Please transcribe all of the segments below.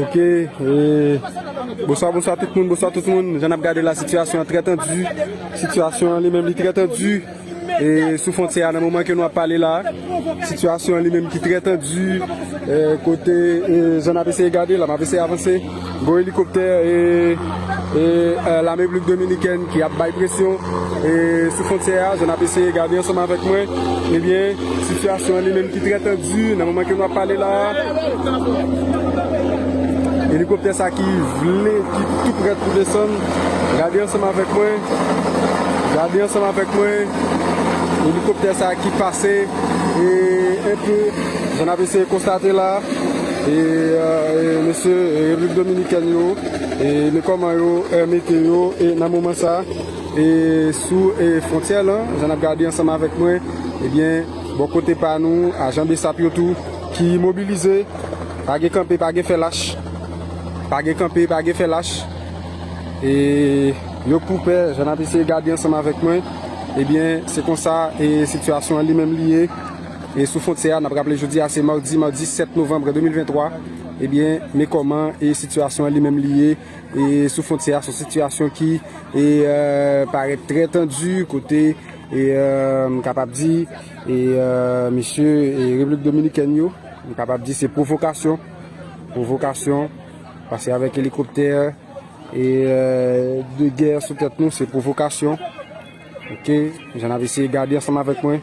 Ok Bonswa bonswa tout moun bonswa tout moun Jan ap gade la sitiyasyon an trè tandi Sitiyasyon an li menm li trè tandi Sou fontyè a nan moman ke nou ap pale la Sitiyasyon an li menm ki trè tandi Kote Jan ap eseye gade la map eseye avanse Gwo elikoptè lame Repiblik Dominikèn ki ap bay presyon sou fwontyè a, jan n ap eseye gade ansanm avèk mwen, ebyen sitiyasyon an li menm ki trè tandi nan moman ke nou ap pale la a. Elikoptè sa ki vle, ki tou prèt pou desann, gade ansanm avèk mwen, gade ansanm avèk mwen, elikoptè sa ki pase enpe, jan n ap eseye konstate la a. E mesye replik dominikèn yo e men kòman yo mete yo e nan moman sa e sou e fontyè lan jan nap gade ansanm avèk mwen ebyen bò kote pa nou ajan bsap yo tou ki mobilize pa gen kanpe pa gen fè lach pa gen kanpe pa gen fè lach e yo k pou pè jan nap eseye gade ansanm avèk mwen ebyen se konsa e sitiyasyon an li menm li ye. E sou fontyè a, n ap raple jodi a se madi, madi 7 novanm 2023, ebyen men kòman e sitiyasyon an li menm li ye e sou fontyè a, s on sitiyasyon ki e parèt trè tandi kote e m kapab di e mesye e Repiblik Dominikèn yo, m kapab di se pwovokasyon, pwovokasyon, pase avèk elikoptè e de gè sou tèt nou, se pwovokasyon, ok, jan n ap eseye gade ansanm avèk mwen.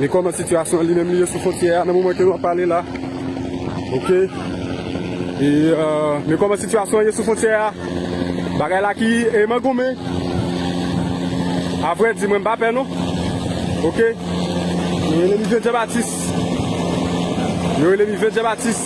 Ni koman sitiyasyon li menm li ye sou fontyè a nan moman ke nou ap pale la. Ok. E men koman sitiyasyon ye sou fontyè a. Bagay la ki e man goumen. Avre di mwen pa pè nou. Ok. Yo rele mi Vye Djebatis. Yo rele mi Vye Djebatis.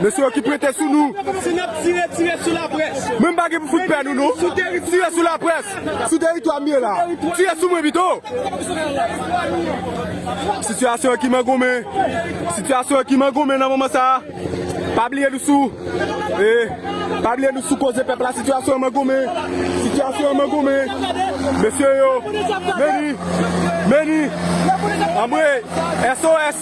Mesye yo ki prete sou nou. Si n ap tire, tire sou laprès. Mwen m pa gen pou fout pè nou non. Tire sou laprès. Sou teritwa m ye la. Tire sou mwen pito. Sitiyasyon an ki mangonmen. Sitiyasyon an ki mangonmen nan moman sa a. Pa bliye nou sou. Pa bliye nou sou koze pèp la. Sitiyasyon an mangonmen. Sitiyasyon an mangonmen. Mesye yo. Meni. Meni. Anmwey. SOS.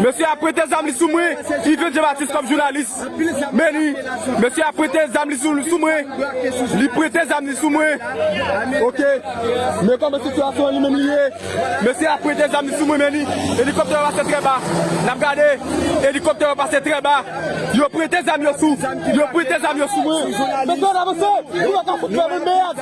Mesye a prete zam li sou mwen Yvens Jean Baptiste kòm jounalis Meni Mesye a prete zam li sou mwen Li prete zam li sou mwen Ok Men kòman sitiyasyon an li menm li ye Mesye a prete zam li sou mwen Meni Elikoptè yo pase trè ba N ap gade Elikoptè yo pase trè ba Yo prete zam yo sou Yo prete zam yo sou mwen Mesye n avanse Pou yo ka fout fè moun mèyad